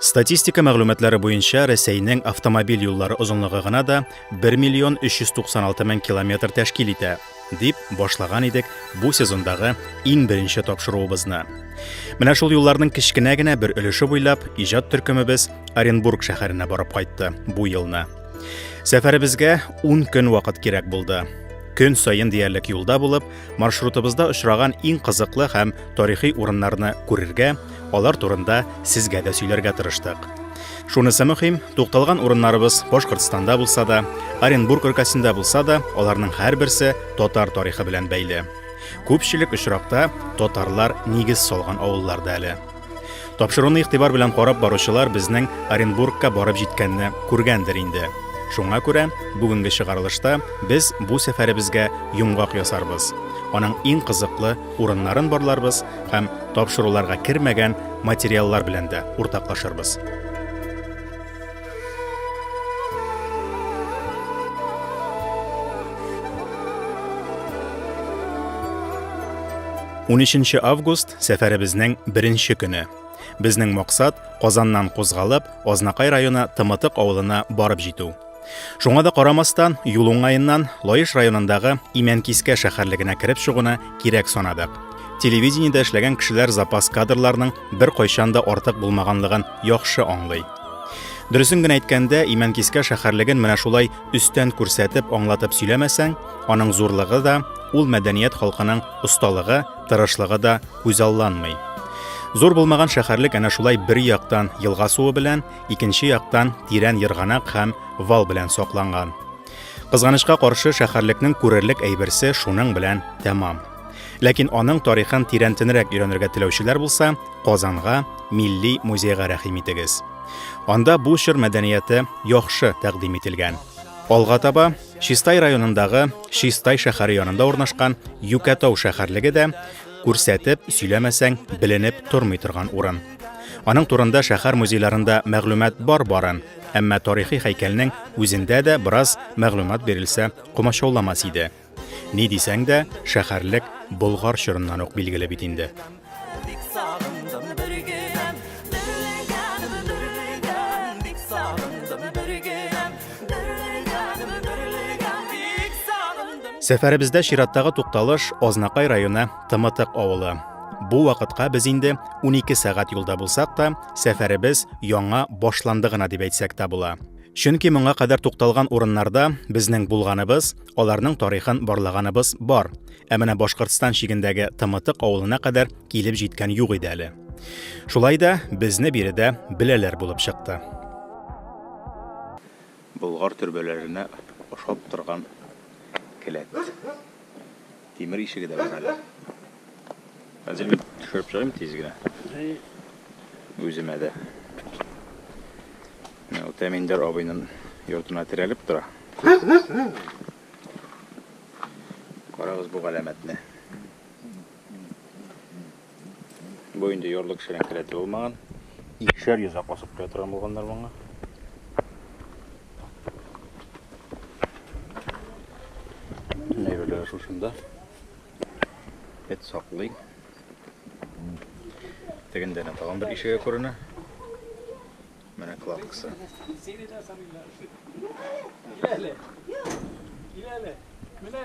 Статистика мәгълүматлары буенча Рәсәйнең автомобиль юллары озынлыгы гына да 1 миллион 396 мең километр тәшкил итә, дип башлаган идек бу сезондагы иң беренче тапшыруыбызны. Менә шул юлларның кечкенә генә бер өлеше буйлап иҗат төркемебез Оренбург шәһәренә барып кайтты бу елны. Сәфәребезгә 10 көн вакыт кирәк булды. Көн саен диярлек юлда булып, маршрутыбызда очраган иң кызыклы һәм тарихи урыннарны күрергә, алар турында сезгә дә сөйләргә тырыштык. Шунысы мөһим, тукталган урыннарыбыз Башкортстанда булса да, Оренбург өлкәсендә булса да, аларның һәрберсе татар тарихы белән бәйле. Күпчелек очракта татарлар нигез салган авылларда әле. Тапшыруны игътибар белән карап баручылар безнең Оренбургка барып җиткәнне күргәндер инде. Шуңа күрә бүгенге чыгарылышта без бу сәфәребезгә йомгак ясарбыз. Аның иң кызыклы урыннарын барларбыз һәм тапшыруларга кермәгән материаллар белән дә уртаклашырбыз. Унөченче август сәфәребезнең беренче көне. Безнең максат Казаннан кузгалып, Азнакай районы Тымытык авылына барып җитү. Шуңа да карамастан, юл уңаеннан Лаеш районындагы Имәнкискә шәһәрлегенә кереп чыгуны кирәк санадык. Телевидениедә эшләгән кешеләр запас кадрларның бер кайчан да артык булмаганлыгын яхшы аңлый. Дөресен генә әйткәндә, Имәнкискә шәһәрлеген менә шулай өстән күрсәтеп, аңлатып сөйләмәсәң, аның зурлыгы да, ул мәдәният халкының осталыгы, тырышлыгы да күзалланмый. Зур булмаган шәһәрлек әнә шулай бер яктан елга суы белән, икенче яктан тирән ерганак һәм вал белән сакланган. Кызганычка каршы шәһәрлекнең күрерлек әйберсе шуның белән тәмам. Ләкин аның тарихын тирәнтенрәк өйрәнергә теләүчеләр булса, Казанга, Милли музейга рәхим итегез. Анда бу чор мәдәнияте яхшы тәкъдим ителгән. Алга таба Чистай районындагы Чистай шәһәре янында урнашкан Юкәтау шәһәрлеге дә күрсәтеп сөйләмәсәң, беленеп тормый торган урын. Аның турында шәһәр музейларында мәгълүмат бар барын, әмма тарихи һәйкәлнең үзендә дә бераз мәгълүмат бирелсә комачауламас иде. Ни дисәң дә, шәһәрлек Болгар чорыннан ук билгеле бит инде. Сәфәребездә чираттагы тукталыш Азнакай районы Тымытык авылы. Бу вакытка без инде 12 сәгать юлда булсак та, сәфәребез яңа башланды гына дип әйтсәк тә була. Чөнки моңа кадәр тукталган урыннарда безнең булганыбыз, аларның тарихын барлаганыбыз бар. Ә менә Башкортстан чигендәге Тымытык авылына кадәр килеп җиткән юк иде әле. Шулай да безне биредә беләләр булып чыкты. Болгар төрбәләренә ошап торган келәт. Тимер ишеге дә бар әле. Хәзер мин төшереп чыгыйм тиз генә. Үземә дә. Менә Утәминдәр абыйның йортына терәлеп тора. Карагыз бу галәмәтне. Бу инде ярлы кешенең келәте булмаган. Икешәр йөз ак басып куя торган булганнар моңа. Нәйберләр шушында. Эт саклый. Тегендә нә тагын бер ишеге күренә. Менә кладкасы. Менә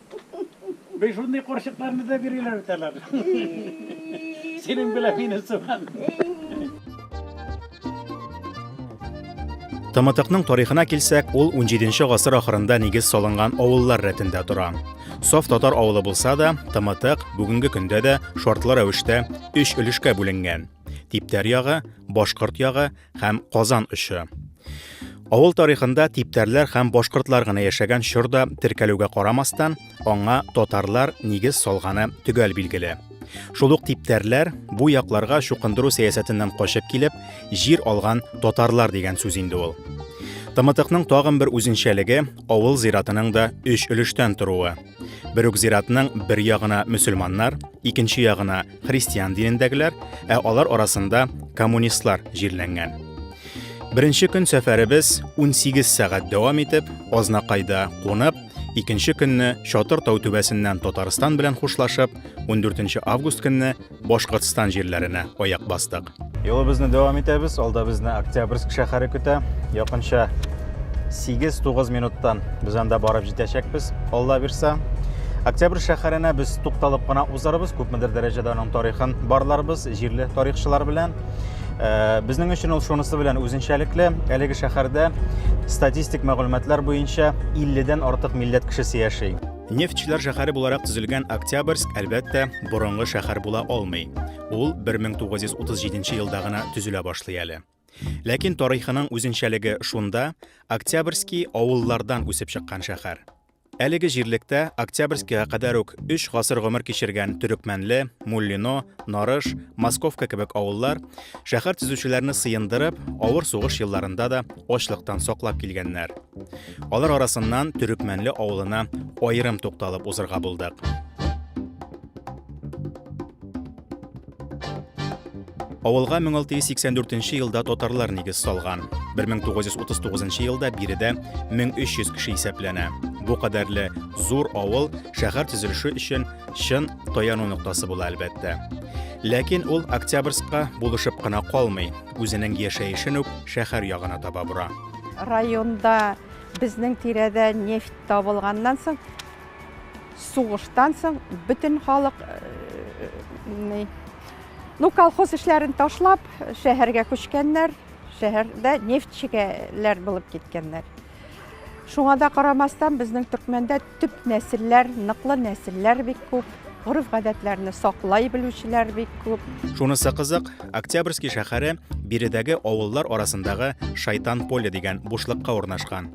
Без шундый корчыкларны да биреләр бит алар. Синең белән мине сыман. Тымытыкның тарихына килсәк, ул 17 гасыр ахырында нигез салынган авыллар рәтендә тора. Саф татар авылы булса да, Тымытык бүгенге көндә дә шартлы рәвештә өч өлешкә бүленгән. Типтәр ягы, башкорт ягы һәм Казан очы. Авыл тарихында типтәрләр һәм башкортлар гына яшәгән чорда теркәлүгә карамастан, аңа татарлар нигез салганы төгәл билгеле. Шул ук типтәрләр бу якларга чукындыру сәясәтеннән качып килеп, җир алган татарлар дигән сүз инде ул. Тымытыкның тагын бер үзенчәлеге авыл зиратының да өч өлештән торуы. Бер үк зиратның бер ягына мөселманнар, икенче ягына христиан динендәгеләр, ә алар арасында коммунистлар җирләнгән. Беренче көн сәфәребез 18 сәгать дәвам итеп, Азнакайда кунып, икенче көнне Чатыр тау түбәсеннән Татарстан белән хушлашып, 14 август көнне Башкортстан җирләренә аяк бастык. Юлыбызны дәвам итәбез. Алда безне Октябрьск шәһәре көтә. Якынча 8-9 минуттан без анда барып җитәчәкбез. Алла бирсә, Октябрь шәһәренә без тукталып кына узарбыз, күпмедер дәрәҗәдә аның тарихын барларбыз, җирле тарихчылар белән. Э, безнең өчен ул шунысы белән үзенчәлекле. Әлеге шәһәрдә статистик мәгълүматлар буенча 50-дән артык милләт кешесе яши. Нефтьчеләр шәһәре буларак төзелгән Октябрьск, әлбәттә, борынгы шәһәр була алмый. Ул 1937 елда гына төзелә башлый әле. Ләкин тарихының үзенчәлеге шунда, Октябрьский авыллардан үсеп чыккан шәһәр. Әлеге җирлектә Октябрьскийга кадәр үк 3 гасыр гомер кичергән Төрекмәнле, Муллино, Нарыш, Московка кебек авыллар шәһәр төзүчеләрне сыендырып, авыр сугыш елларында да ачлыктан саклап килгәннәр. Алар арасыннан Төрекмәнле авылына аерым тукталып узырга булдык. Авылга 1684 нче елда татарлар нигез салган. 1939 нчы елда биредә 1300 кеше исәпләнә. Бу кадәрле зур авыл шәһәр төзелеше өчен чын таяну ноктасы була, әлбәттә. Ләкин ул Октябрьскка булышып кына калмый, үзенең яшәешен үк шәһәр ягына таба бора. Районда безнең тирәдә нефть табылганнан соң, Сугыштан соң бөтен халык Ну, колхоз эшләрен ташлап, шәһәргә күчкәннәр, шәһәрдә нефтьчегәләр булып киткәннәр. Шуңа да карамастан, безнең төркмәндә төп нәселләр, ныклы нәселләр бик күп, гореф-гадәтләрне саклай белүчеләр бик күп. Шунысы кызык, Октябрьский шәһәре биредәге авыллар арасындагы Шайтан поле дигән бушлыкка урнашкан.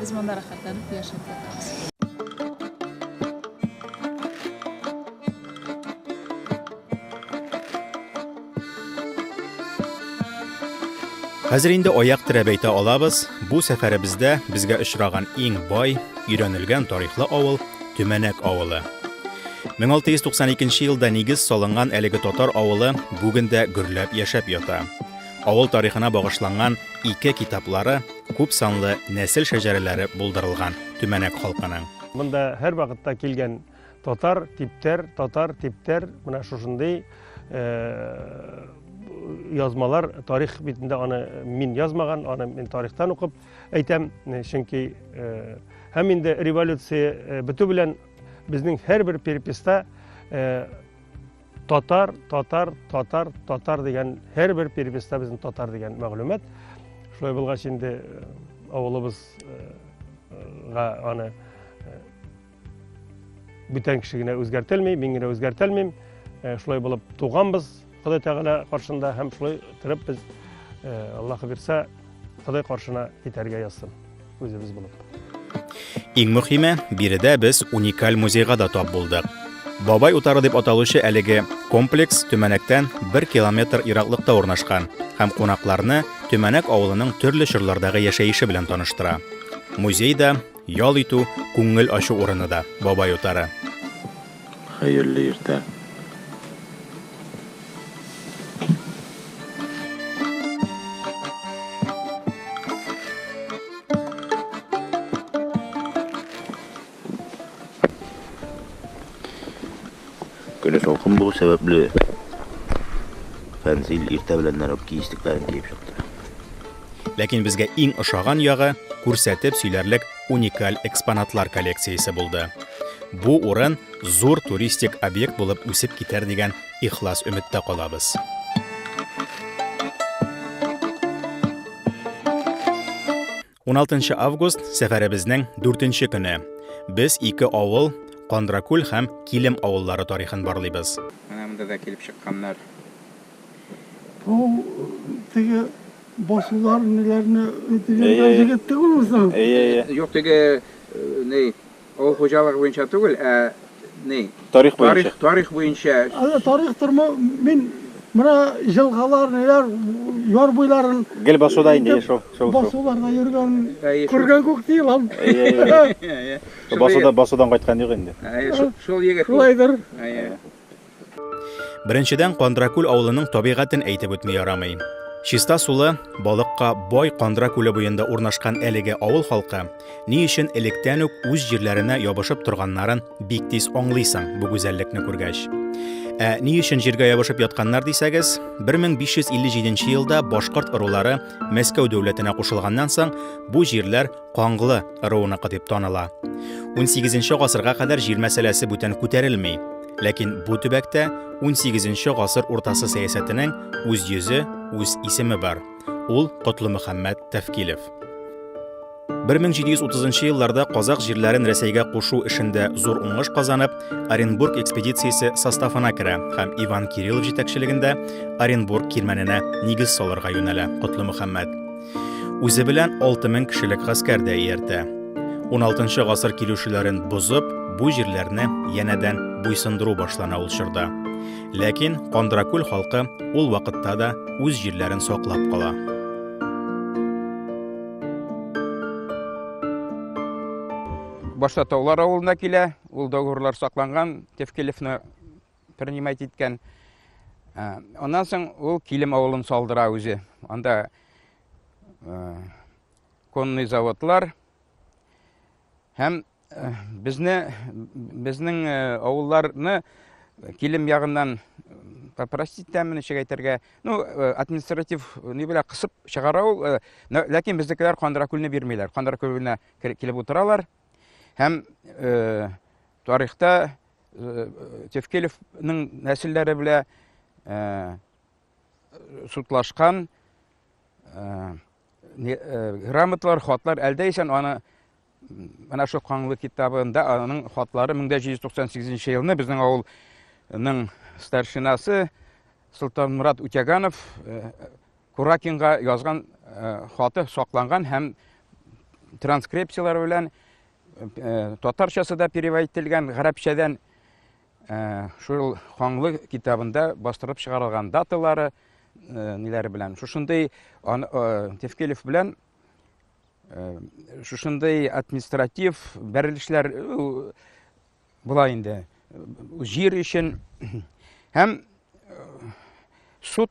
Без монда рәхәтләнеп яшәп ятабыз. Хәзер инде аяк терәп әйтә алабыз, бу сәфәребездә безгә очраган иң бай, өйрәнелгән тарихлы авыл Төмәнәк авылы. 1692 елда нигез салынган әлеге татар авылы бүген дә гөрләп яшәп ята. Авыл тарихына багышланган ике китаплары, күп санлы нәсел шәҗәрәләре булдырылган Төмәнәк халкының. Монда һәрвакытта килгән татар, типтәр, татар, типтәр, менә шушындый э, язмалар тарих битендә аны мин язмаган, аны мин тарихтан укып әйтәм, э, чөнки э, һәм инде революция бетү белән безнең һәрбер переписта Татар, татар, татар, татар дигән һәр бер переписта безнең татар дигән мәгълүмат. Шулай булгач инде э, авылыбызга э, аны э, бүтән кеше генә үзгәртелми, мин генә үзгәртелмим. Шулай булып туганбыз Ходай Тәгалә каршында һәм шулай торып без Аллаһы бирсә Ходай каршына китәргә язсын. үзебез булып. Иң мөхиме, биредә без уникаль музейга да тап булдык. Бабай утары дип аталучы әлеге комплекс Төмәнәктән 1 километр ераклыкта урнашкан һәм кунакларны Төмәнәк авылының төрле чорлардагы яшәеше белән таныштыра. Музей да, ял итү, күңел ачу урыны да Бабай утары. Хәерле иртә. Көне салкын булу сәбәпле Фәнзил иртә белән нәрәп киестекләрен киеп чыкты. Ләкин безгә иң ошаган ягы, күрсәтеп сөйләрлек уникаль экспонатлар коллекциясе булды. Бу урын зур туристик объект булып үсеп китәр дигән ихлас өметтә калабыз. Уналтынчы август сәфәребезнең дүртенче көне. Без ике авыл, Кандракүл һәм Килем авыллары тарихын барлыйбыз. Менә монда да килеп чыкканнар. Бу теге басулар ниләрне дигәндә җегет түгел үзен. Юк теге ни авыл хуҗалыгы буенча түгел, ә ни тарих буенча. Тарих буенча. Әле тарих тормы мин менә җылгалар ниләр яр буйларын гел басуда инде шул шул басуларда йөргән күргән күк ди лам. Басуда басудан кайткан юк инде. Шул егет. Шулайдыр. Беренчедән, Кандракүл авылының табигатен әйтеп үтми ярамый. Чиста сулы, балыкка бай Кандра күле буенда урнашкан әлеге авыл халкы ни өчен электән үк үз җирләренә ябышып торганнарын бик тиз аңлыйсың бу гүзәллекне күргәч. Ә ни өчен җиргә ябышып ятканнар дисәгез, 1557 елда башкорт ырулары Мәскәү дәүләтенә кушылганнан соң бу җирләр Канглы ыруыныкы дип таныла. 18 гасырга кадәр җир мәсьәләсе бүтән күтәрелми. Ләкин бу төбәктә 18 гасыр уртасы сәясәтенең үз йөзе, үз исеме бар. Ул Котлымөхәммәт Тәфкилев. 1730 елларда казак җирләрен Рәсәйгә кушу эшендә зур уңыш казанып, Оренбург экспедициясе составына керә һәм Иван Кириллов җитәкчелегендә Оренбург кирмәненә нигез салырга юнәлә Котлы Мөхәммәд. Үзе белән 6000 кешелек гаскәр дә ияртә. 16 гасыр килүчеләрен бозып, бу җирләрне янәдән буйсындыру башлана ул чорда. Ләкин Кандракүл халкы ул вакытта да үз җирләрен саклап кала. Башта Таулар авылына килә, ул договорлар сакланган, Тевкелевны принимать иткән. Ә, Аннан соң ул Килем авылын салдыра үзе. Анда ә, конный заводлар һәм ә, безне безнең ә, авылларны Килем ягыннан попросить тәмен ничек әйтергә ну э, административ э, ни белән кысып чыгара ул э, ләкин безнекеләр кандыракүлне бирмиләр кандыракүленә килеп утыралар һәм тарихта Э, Тевкелевның нәселләре белә э, сутлашкан э, грамоталар, хатлар әлдә исән аны менә шул Каңлы китабында аның хатлары 1798 елны безнең авылның старшинасы Султанмурат Утяганов Куракинга язган хаты сакланган һәм транскрипцияләр белән Э, татарчасы да перевод ителгән гарәпчәдән э, шул хаңлы китабында бастырып чыгарылган даталары э, ниләре белән шушындый тевкелев белән шушындый административ бәрелешләр була инде җир өчен һәм суд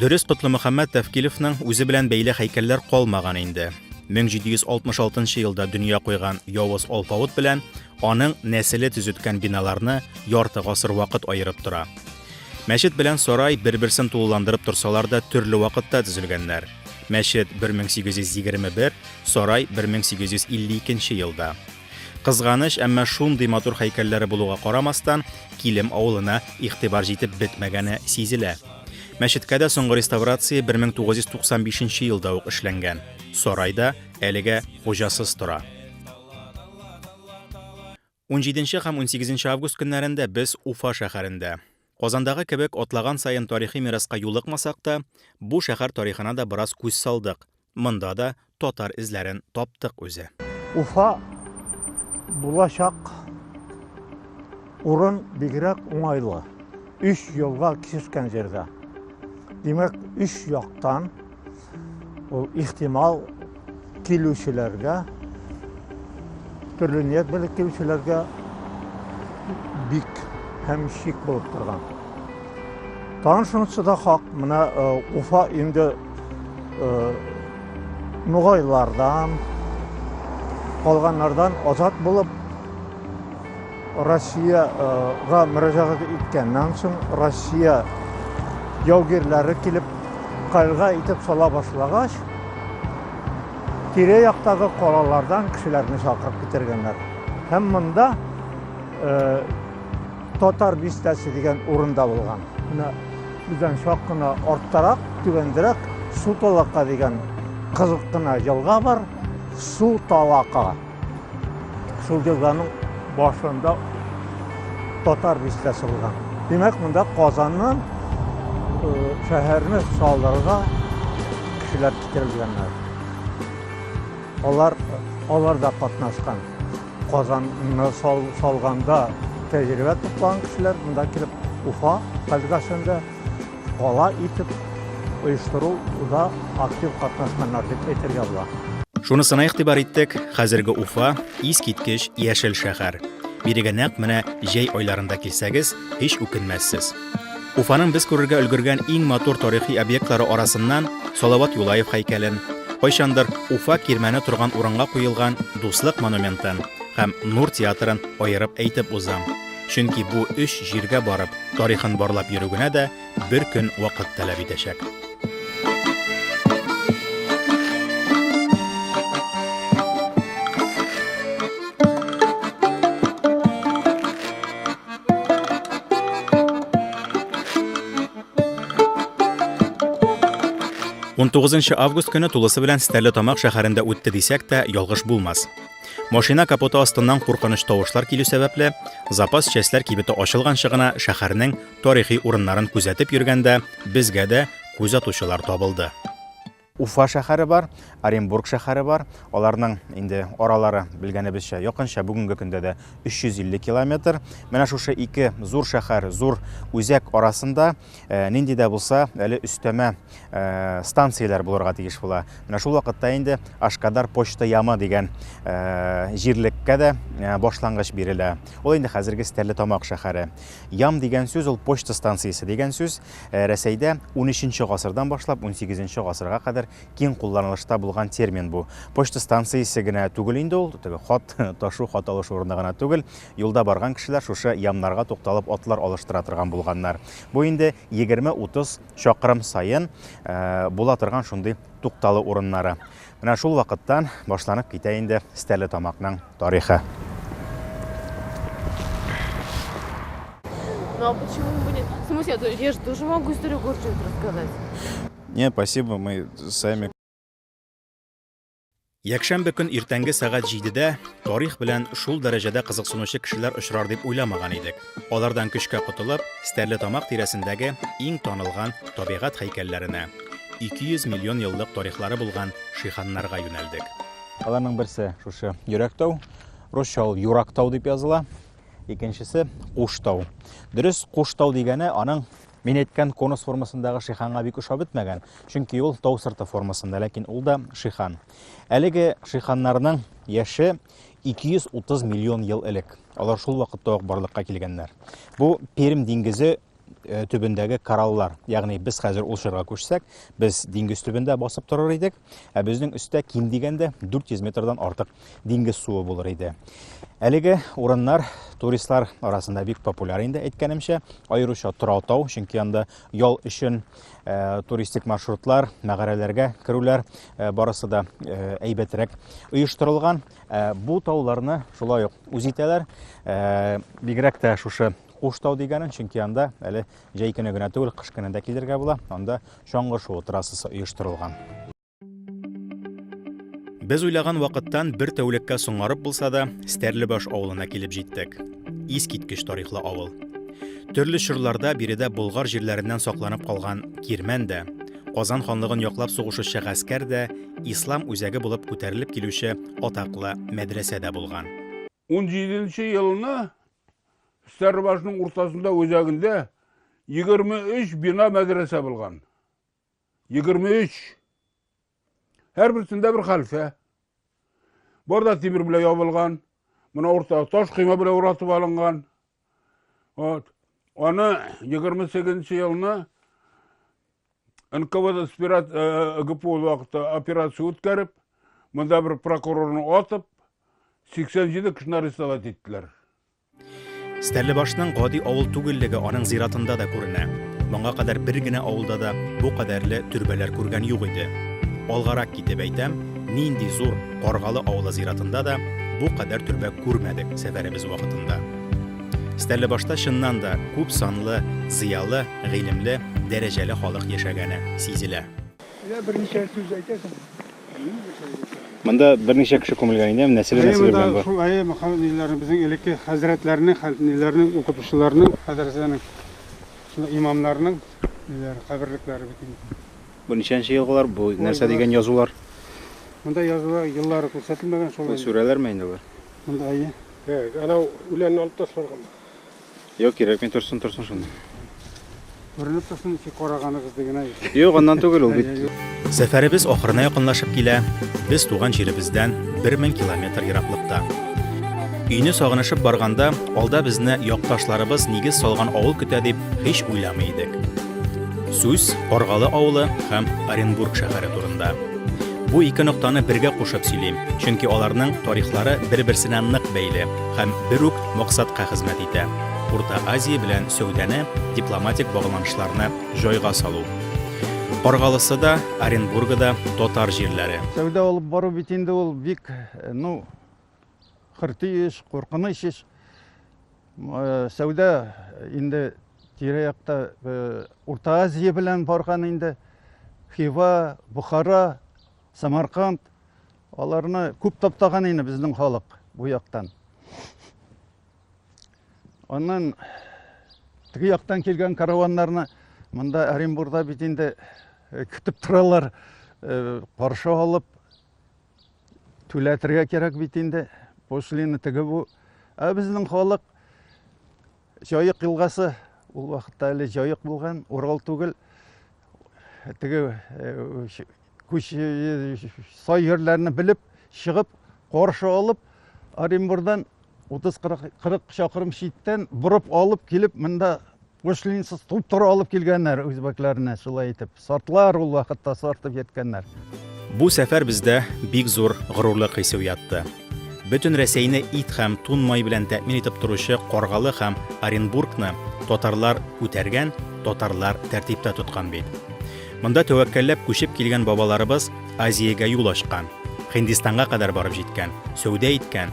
Дөрес, Котлымөхәммәт Тәфкилевның үзе белән бәйле һәйкәлләр калмаган инде. 1766 елда дөнья куйган явыз алпавыт белән аның нәселе төзеткән биналарны ярты гасыр вакыт аерып тора. Мәчет белән сарай бер-берсен тулыландырып торсалар да төрле вакытта төзелгәннәр. Мәчет 1821, сарай 1852 елда. Кызганыч, әмма шундый матур хәйкәлләре булуга карамастан, Килем авылына игътибар җитеп бетмәгәне сизелә. Мәчеткә дә соңгы реставрация 1995 елда ук эшләнгән. Сарай да әлегә хуҗасыз тора. 17 һәм 18 август көннәрендә без Уфа шәһәрендә. Казандагы кебек атлаган саен тарихи мираска юлыкмасак та, бу шәһәр тарихына да бераз күз салдык, монда да татар эзләрен таптык үзе. Уфа булачак урын бигрәк уңайлы, өч елга киселгән җирдә. Димәк, өч яктан. Ул ихтимал килүчеләргә, төрле ният белән килүчеләргә бик һәм шик булып торган. Тагын шунысы да хак, менә э, Уфа инде э, нугайлардан, калганнардан азат булып Россиягә мөрәҗәгать иткәннән соң, Россия яугирләре килеп, кальга итеп сала башлагач, тирә-яктагы калалардан кешеләрне чакырып китергәннәр. Һәм монда Татар бистәсе дигән урында булган. Менә бездән чак кына арттарак, түбәндерәк Су-Талака дигән кызык кына елга бар. Су-Талака. Шул елганың башында татар бистә салган. Димәк, монда Казаннан шәһәрне салдырырга кешеләр китерелгәннәр. Алар алар да катнашкан. Казанны салганда тәҗрибә тупланган кешеләр монда килеп Уфа, Кальгасында Кала итеп оештыру да актив катнашканнар дип әйтергә була. Шунысына игътибар иттек, хәзерге Уфа искиткеч яшел шәһәр. Бирегә нәкъ менә җәй айларында килсәгез, һич үкенмәссез. Уфаның без күрергә өлгергән иң матур тарихи объектлары арасыннан Салават Юлаев һәйкәлен, кайчандыр Уфа кирмәне торган урынга куелган Дуслык монументын һәм Нур театрын аерып әйтеп узам. Чөнки бу өч җиргә барып, тарихын барлап йөрү генә дә бер көн вакыт таләп итәчәк. Унтугызынчы август көне тулысы белән Стәрлетамак шәһәрендә үтте дисәк тә, ялгыш булмас. Машина капоты астыннан куркыныч тавышлар килү сәбәпле, запас частьләр кибете ачылганчы гына шәһәрнең тарихи урыннарын күзәтеп йөргәндә, безгә дә күз атучылар табылды. Уфа шәһәре бар, Оренбург шәһәре бар. Аларның инде аралары белгәнебезчә якынча бүгенге көндә дә 350 километр. Менә шушы ике зур шәһәр, зур үзәк арасында э, нинди дә булса әле өстәмә э, станцияләр булырга тиеш була. Менә шул вакытта инде Ашкадар почта ямы дигән э, җирлеккә дә э, башлангыч бирелә. Ул инде хәзерге Стәрлетамак шәһәре. Ям дигән сүз ул почта станциясе дигән сүз. Э, Рәсәйдә 13 гасырдан башлап 18 гасырга кадәр киң кулланылышта булган термин бу. Почта станциясе генә түгел инде ул, теге хат ташу, хат алыш урыны гына түгел. Юлда барган кешеләр шушы ямнарга тукталып атлар алыштыра торган булганнар. Бу инде 20-30 чакрым саен була торган шундый тукталу урыннары. Менә шул вакыттан башланып китә инде Стәле тамакның тарихы. Ну а почему бы нет? В смысле, а я же тоже могу историю Горченко рассказать. Не, спасибо, мы сами Якшәмбе көн иртәнге сәгать җидедә тарих белән шул дәрәҗәдә кызыксынучы кешеләр очрар дип уйламаган идек. Алардан көчкә котылып, Стәрлетамак тирәсендәге иң танылган табигать һәйкәлләренә, 200 миллион еллык тарихлары булган шиханнарга юнәлдек. Аларның берсе шушы Йөрәктау, русча ул Юрактау дип языла. Икенчесе Куштау. Дөрес, Куштау дигәне аның Мин әйткән конус формасындагы шиханга бик ошап бетмәгән, чөнки ул тау сырты формасында, ләкин ул да шихан. Әлеге шиханнарның яше 230 миллион ел элек. Алар шул вакытта ук барлыкка килгәннәр. Бу Пермь диңгезе э, төбендәге кораллар. Ягъни без хәзер ул чорга күчсәк, без диңгез төбендә басып торыр идек. Ә безнең өстә ким дигәндә 400 метрдан артык диңгез суы булыр иде. Әлеге урыннар туристлар арасында бик популяр инде әйткәнемчә, аеруча Тораутау, чөнки анда ял өчен э, туристик маршрутлар, мәгарәләргә керүләр э, барысы да э, әйбәтрәк оештырылган. Э, бу тауларны шулай ук үз итәләр. Э, бигрәк тә шушы Куштау дигәнен, чөнки анда әле Җәй көне генә түгел, кыш көне дә килергә була. Анда чаңгы шуу трассасы оештырылган. Без уйлаган вакыттан бер тәүлеккә соңарып булса да, Стәрлебаш авылына килеп җиттек. Искиткеч тарихлы авыл. Төрле чорларда биредә болгар җирләреннән сакланып калган Кирмән дә, Казан ханлыгын яклап сугышучы гаскәр дә, ислам үзәге булып күтәрелеп килүче атаклы мәдрәсә дә булган. 17 елны Стәрлебашның уртасында үзәгендә 23 бина мәдрәсә булган. 23. Һәр берсендә бер хәлфә. Барда тимер белән ябылган, мына урта таш койма белән уратып алынган. Вот. Аны 28 елны нквд гпу вакытта операция үткәреп монда бер прокурорны атып 87 кешене арестовать иттеләр Стәрлебашның гади авыл түгеллеге аның зиратында да күренә. Моңа кадәр бер генә авылда да бу кадәрле төрбәләр күргән юк иде. Алгарак китеп әйтәм, нинди зур Каргалы авылы зиратында да бу кадәр төрбә күрмәдек сәфәребез вакытында. Стәрлебашта чыннан да күп санлы, зыялы, гыйлемле, дәрәҗәле халык яшәгәне сизелә. Менә берничә сүз әйтәсең. Монда берничә кеше күмелгән инде, һәм нәселе нәселе белән бар. Шул әйе, махал ниләрне безнең элекке хәзрәтләрнең, хәлфниләрнең, укытучыларның, мәдрәсәнең, шул имамнарның ниләре, каберлекләре бит инде. Бу ничәнче елгылар, бу нәрсә дигән язулар? Монда язулар еллары күрсәтелмәгән, шул. Бу сүрәләрме инде алар? Монда әйе. Әйт, анау үләнне алып ташларга ма? Юк, кирәкми торсын, торсын шунда. Күренеп торсын, ничек караганыгыз диген әй. Юк, аннан түгел ул бит. Сәфәребез ахырына якынлашып килә. Без туган җиребездән 1000 километр ераклыкта. Өйне сагынышып барганда, алда безне якташларыбыз нигез салган авыл көтә дип һич уйламый идек. Сүз Аргалы авылы һәм Оренбург шәһәре турында. Бу ике ноктаны бергә кушып сөйлим, чөнки аларның тарихлары бер-берсенә нык бәйле һәм бер үк максатка хезмәт итә, Урта Азия белән сәүдәне, дипломатик багланышларны җайга салу. Каргалысы да, Оренбургы да татар җирләре. Сәүдә алып бару бит инде ул бик, ну, хөрти эш, куркыныч эш. Сәүдә инде тирә-якта Урта Азия белән барган инде. Хива, Бухара, Самарканд аларны күп таптаган инде безнең халык бу яктан. Аннан теге яктан килгән караваннарны монда Оренбурда бит инде көтеп торалар, каршы алып Түләтергә кирәк бит инде. Пошлина теге бу. Ә безнең халык Җаек елгасы ул вакытта әле Җаек булган, Урал түгел. Теге э, күч э, сай җирләрне белеп, чыгып, каршы алып Оренбурдан 30-40 чакрым читтән борып алып килеп, монда Гушлинсыз туп-туры алып килгәннәр үзбәкләрне, шулай итеп. Сартлар ул вакытта сартып яткәннәр. Бу сәфәр бездә бик зур горурлык хисе уятты. Бөтен Рәсәйне ит һәм тун май белән тәэмин итеп торучы Каргалы һәм Оренбургны татарлар күтәргән, татарлар тәртиптә тоткан бит. Монда тәвәккәлләп күчеп килгән бабаларыбыз Азиягә юл ачкан, Һиндистанга кадәр барып җиткән, сәүдә иткән,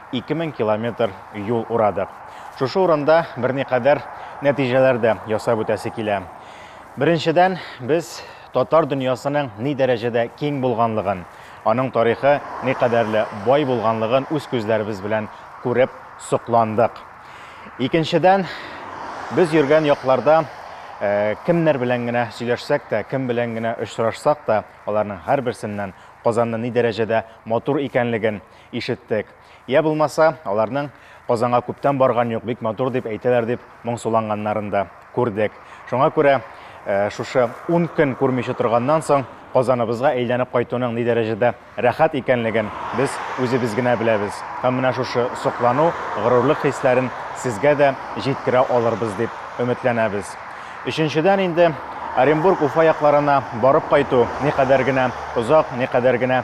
ике мең километр юл урадык. Шушы урында берникадәр нәтиҗәләр дә ясап үтәсе килә. Беренчедән, без татар дөньясының ни дәрәҗәдә киң булганлыгын, аның тарихы никадәрле бай булганлыгын үз күзләребез белән күреп сокландык. Икенчедән, без йөргән якларда кемнәр белән генә сөйләшсәк тә, кем белән генә очрашсак та, аларның һәрберсеннән Казанны ни дәрәҗәдә матур икәнлеген, Ишеттек. Йә булмаса, аларның Казанга күптән барган юк, бик матур дип әйтәләр дип моңсуланганнарын да күрдек. Шуңа күрә шушы ун көн күрмичә торганнан соң Казаныбызга әйләнеп кайтуның ни дәрәҗәдә рәхәт икәнлеген без үзебез генә беләбез. Һәм менә шушы соклану, горурлык хисләрен сезгә дә җиткерә алырбыз дип өметләнәбез. Өченчедән инде Оренбург, Уфа якларына барып кайту никадәр генә озак, никадәр генә